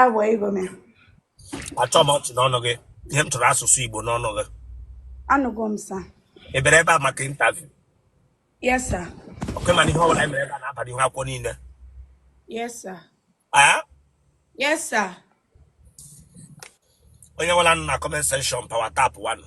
agwago m achọ m ọchị n'ọnụ gị ihe m chọrọ asụsụ igbo n'ọnụ gị anụgo m sa ị bịara ebe a maka interview yes sir okay ị ma na ihe ọbụla mere ebe a na-abara ihu akwụkwọ niile yes sir ah? yes sir onye nwela nụ na comment section pawa tap wanụ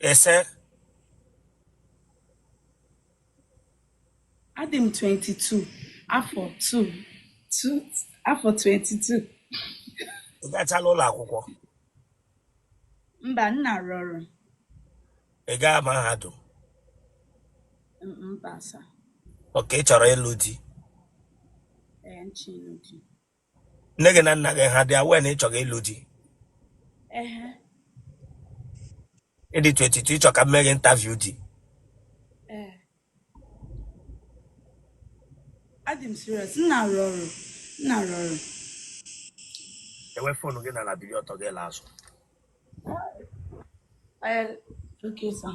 Yes sir. Adị m 22 afọ 2 2 afọ 22 Ị gachala ụlọ akwụkwọ. mba nna rụrụ Ị gaa mahadum. m- mba sa Okay ị chọrọ ịlụ di. ee m chọ ịnụ di nne gị na nna gị ha dị aware na ị chọrọ ịlụ di Ehe. ị dị 22 ị chọ ka m mee gị interview di Ee. Adị m serious. M na-arụ ọrụ. M na-arụ ọrụ. dewe fonu gị n'ala bili ọtọ gị laa azụ Ee, Okay, sir.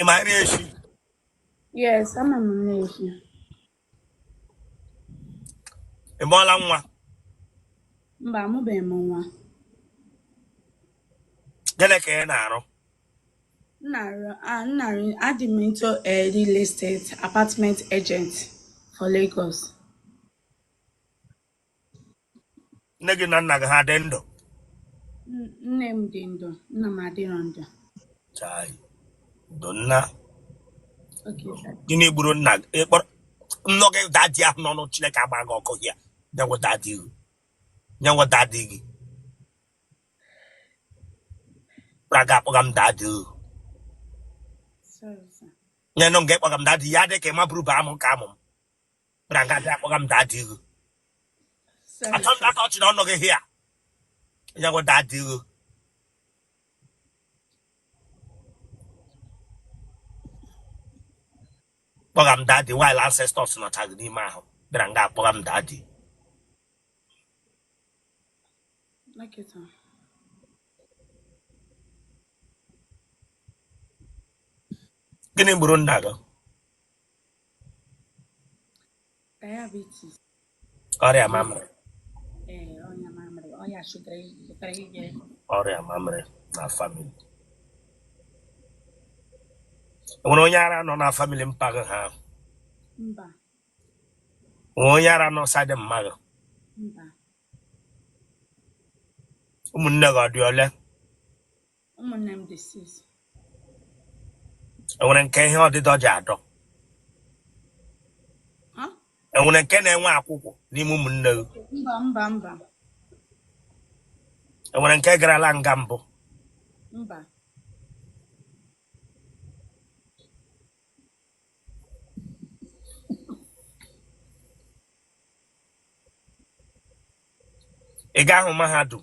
Ị ma nri esi? Yes, ama m nri esi. Ị mụọla nwa? Mba, amụbeghị m nwa. Gịnị ka ị na-arụ? M na-arụ adị m into a real estate apartment agent for Lagos. nne gị na nna gị ha dị ndụ nne m dị ndụ nna m adịrọ ndụ chai ndo nna gịnị gburu nna gị ị kpọrọ nnọ gị dadi ahụ n'ọnụ chineke agbaa gị ọkụ hịa onye wụ dadi gị onye wụ dadi gị bịara nga akpọga m dadi gị nyenụ m gị kpọga m dadi ya dị ka ị maburu bụ amụ nke amụ m bịara nga bịa akpọga m dadi ihu achọ m aka ọchị n'ọnụ gị hịa onye wụ dadi ihu kpọga m dadi while ancestors nọcha gị n'ime ahụ bịara nga akpọga m dadi nkịta. gịnị gburu nna gị diabetes ọrịa mamịrị ee ọrịa mamịrị ọrịa shuga pụtara ije ọrịa mamịrị na famili e nwere onye ara nọ na famili mpa gị ha mba nwee onye ara nọ side mma gị mba ụmụnne gị ha dị ole ụmụnne m dị six enwere nke ihe ọdịdọ ji adọ Ha? enwere nke na-enwe akwụkwụ n'ime ụmụnne gị mba mba mba enwere nke garala nga mbụ mba ị gahụ mahadum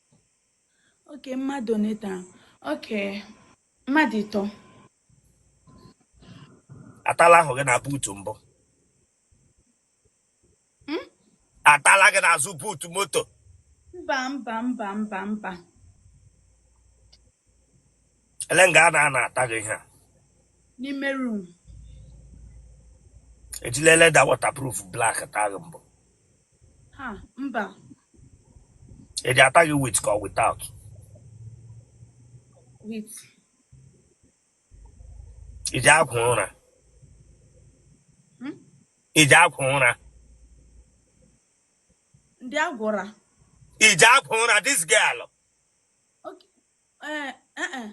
oke mmadụ one taa oke mmadụ ịtọ atala ahụ gị na buutu mbụ Hmm? atala gị n'azụ buutu moto mba mba mba mba mba ele nga a na-anọ ata gị ihe a n'ime room e jila leda waterproof black taa gị mbụ ha mba E ji ata gị with ka ọ without? With. Ị ji agwọ ụra? Hmm? Ị ji agwọ ụra? Ndị agwọ ụra. Ị ji agwọ ụra this girl? Eh, eh, eh.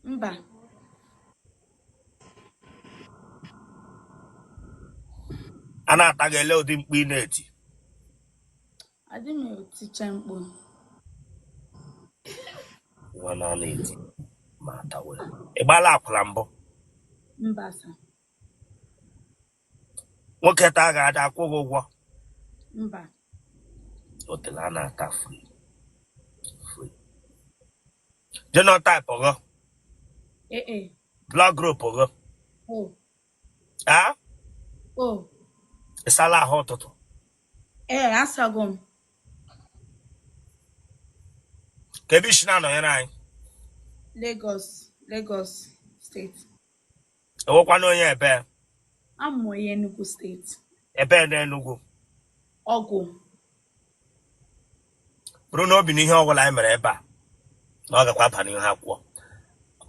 mba a na-ata gị ele ụdị mkpu ị na-eti adị m eticha mkpu nwa na ọ na-eti ma atawe ị gbaala akwụla mbụ mba sa nwoke taa gị a da-akwụ gị ụgwọ mba otele a na-ata free free genotype gị AA blood group gị o a o ị sala ahụ ụtụtụ ee asago m kee ebe i si na-anọnyere anyị Lagos Lagos State Ị wụkwanụ onye ebe? A wụ m onye Enugu State. Ebe na Enugu? Ọgwụ. Buru n'obi na ihe ọbụla anyị mere ebe a na ọ gakwa aba n'ihu ha kwuo.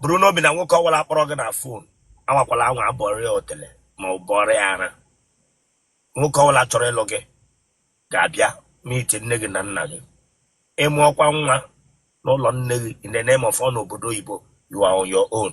Buru n'obi na nwoke ọbụla kpọrọ gị na fon anwakwala anwa bọọrọ ya otele ma ọ bọọrọ ya ara. Nwoke ọbụla chọrọ ịlụ gị ga-abịa n'iti nne gị na nna gị. Ị mụọkwa nwa n'ụlọ nne gị in the name of ọ nọ obodo oyibo you are on your own.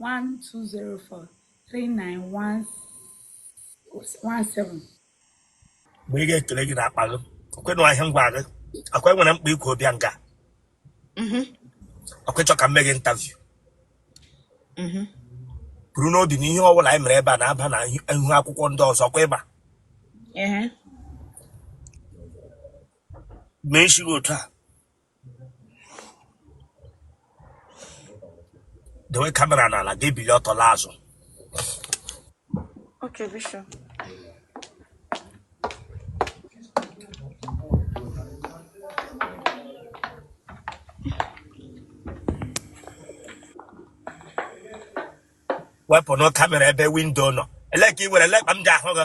12043917 mgbe ị ga-ekele gị n'akpa gị okwenụ ahịa ngwa gị akwa enwere mkpa ikwu obịa nga mhm. ọkwa ị chọ ka m mee gị interview mhm. buru n'obi na ihe ọbụla anyị mere ebe a na-aba na ihu akwụkwọ ndị ọzọ kwa ịba mee isi gị otu a dowe kamera n'ala gị bili ọtọ laa azụ Okay, Bishop. wepụ na kamera ebe windo nọ ele ka ị were lekpa m ji ahụ gị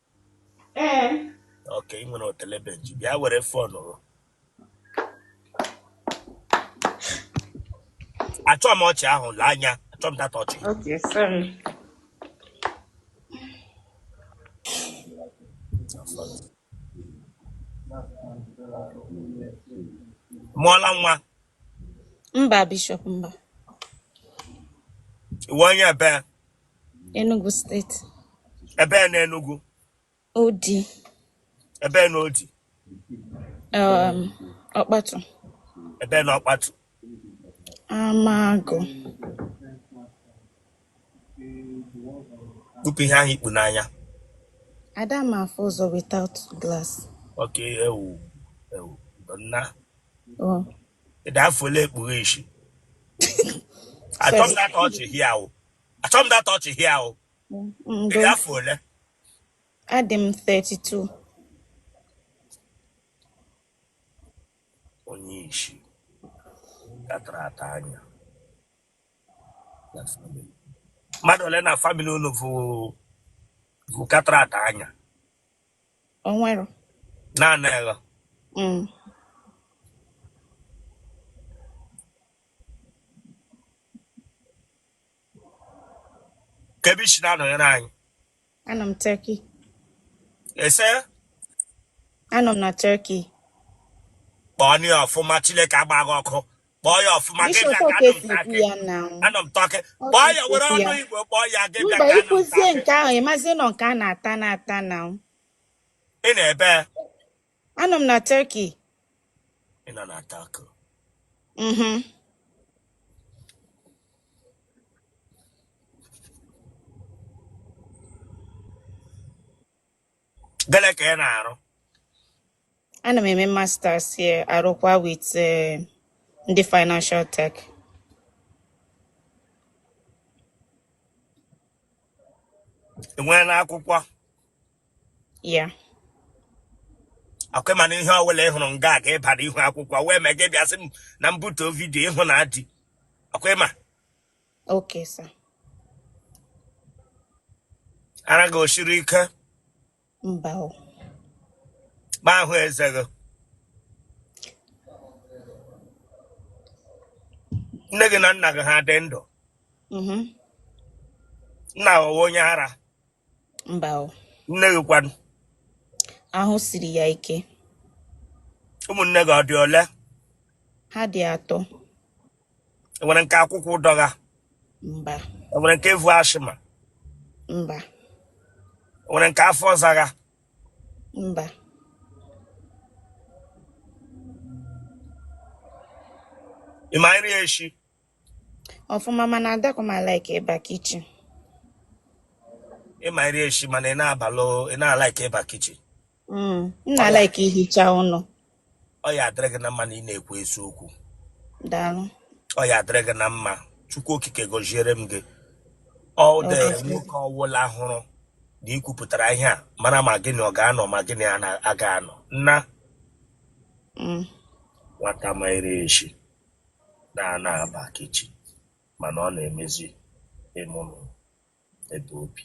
Ee. Ok, ị nwere otele benji. Bịa were fon o. Achọ m ọchị ahụ lee anya. Achọ m that ọchị. Ok, sorry. Mụọla nwa. Mba, Bishop, mba. Ị wụ onye ebee? Enugu steeti. Ebee na Enugu? Udi. Ebee na Udi? Um, Ọkpatu. Ebee na Ọkpatu? Amagụ. Kpupụ ihe ahụ i kpu n'anya. Ada m afụ ụzọ without glass. Ok, ewu, ewu, nna. Oh. Ị dị afọ ole? Kpughe isi. Achọ m that ọchị hịa o. achọ m that ọchị hịa o ị dị afọ ole adị m 32 onye isi gatara ata anya mmadụ ole na famili unu ka tara ata anya onwere naanị gị mm. Kee ebe i si na-anọnyere anyị. Anọ m Turkey. Ị sị? Anọ m na Turkey. Kpọọ ya ọfụma Chineke agba gị ọkụ. Kpọọ ya ọfụma gị bịa ka anọ m Turkey. Anọ m Turkey. Kpọọ ya were ọnụ Igbo kpọọ ya gị bịa ka anọ m Turkey. Mba ị kwuzie nke ahụ ị mazi na ọ nke a na-ata na-ata na. Ị nọ ebee? Anọ m na Turkey. Ị nọ na Turkey? Mhm. Gịnị ka ị na-arụ? Ana m eme masters here arụkwa with eh, ndị financial tech. I nweela akwụkwọ? ya ọ kwa ị ma na ihe ọbụla ị hụrụ nga aga ịbara ihu akwụkwọ wee mee gị bịa sị m na m butuo vidio ị hụna di ọ kwa ị ma okay sir ara gị o siri ike mba ka m hụ eze gị nne gị na nna gị ha dị ndụ mhm. nna gị ọ wụ onye ara mba o nne gị kwanụ ahụ siri ya ike ụmụnne gị ọ dị ole ha dị atọ enwere nke akwụkwụ dọgha mba enwere nke evu asthma mba enwere nke afọ zagha mba ị ma iri eshi ọfụma mana adịkwa m alaike ịba kichin ị ma iri eshi mana ị na-abalụ ị na-alaike ịba kichin mm, m na-alaike ihicha ụlọ ọ ya adịrị gị na mma na ị na-ekwu eziokwu daalụ ọ ya adịrị gị na mma chukwu okike gọziere m gị ọ dị nwoke ọwụla hụrụ na i kwupụtara ihe a mara ma gị na ya ọ ga-anọ ma gị na ya aga anọ nna mm. nwata ma iri eshi na ana aba kichin mana ọ na-emezi ime ụlọ ebe o bi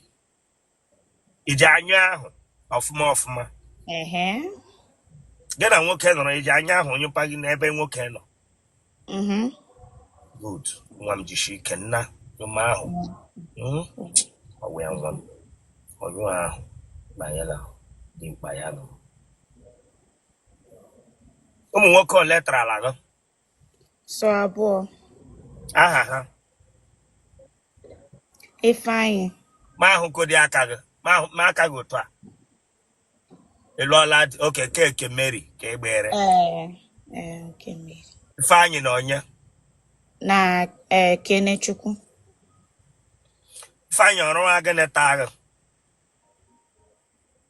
i ji anya ahụ ọfụma ọfụma ehe gị na nwoke nọrọ i ji anya ahụ onye mpaghị n'ebe nwoke nọ mhm good nwa m jishi ike n'anya ọma ahụ Mm. ọ wụ ya nwa m onye ahụ na ya na dimkpa ya nọ ụmụ nwoke ole tarala gị sọ abụọ aha ha ifeanyị ma ahụkodi aka gị ma ahụ- mee aka gị otu a ị lụọla di oke keke mary kay ị gbere ee ee nke mmiri ifeanyị na onye na ee kenechukwu ifeanyị ọrụ nwa gịnị taa gị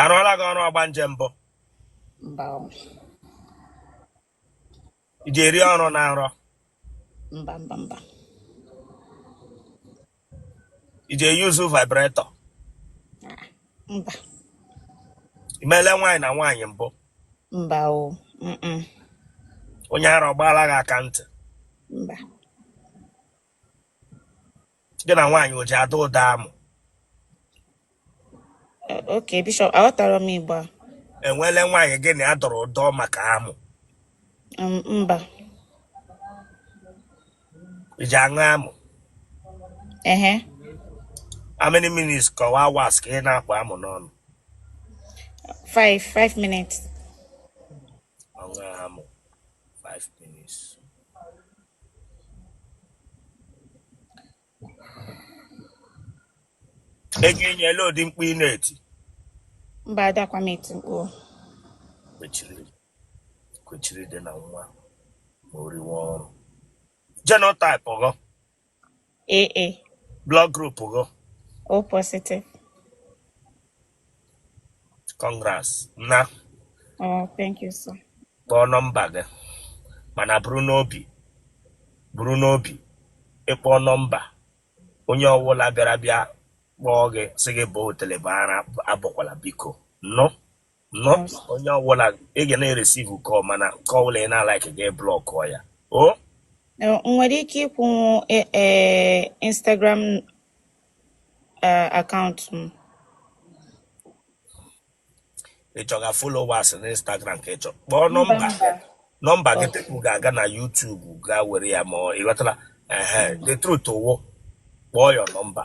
arụọla gị ọrụ ọgbanje mbụ mba o, iji eri ọrụ na nrọ mba mba mba iji eyuzu vibrator mba imele nwaanyị na nwaanyị mbụ mba o mm-mm, onye ara ọ gbaala gị aka ntị mba gị na nwaanyị o ji adọ ụdọ amụ ok bishop aghọtara m igbo a enwele nwaanyị gị na ya dọrọ ụdọ maka amụ Um, mba iji aṅụ amụ ehe how many minutes ka ọ wụ hours ka ị na-akpọ amụ n'ọnụ five five minutes Onwe ha mụ 5 minutes. Ị ga-enye ele ụdị mkpu ị na-eti. Mba adakwa m eti mkpu. Kwechiri kwechiri dị na nwa ma o riwe ọrụ. Genotype gị. AA. Blood group gị? O positive. Congrats. Na. Oh, thank you, sir. Kpọọ nọmba gị. Mana buru n'obi. Buru n'obi. Ị kpọọ nọmba. Onye ọwụla bịara bịa kpọọ gị sị gị bọọ otele bọọ ara abọkwala biko. No. no onye ọbụla ị ga na-eresivu kọl mana nke ọbụla ị na-alaikighị blọkụ ya o E, nwere ike ịkwụnwu e, e, Instagram e, akaụntụ m ị chọga followers na Instagram ka ị chọ kpọọ nọmba nọmba gị tupu ga-aga na YouTube gaa were ya ma ọ- ị ghọtara ehe the truth wụ kpọọ ya nọmba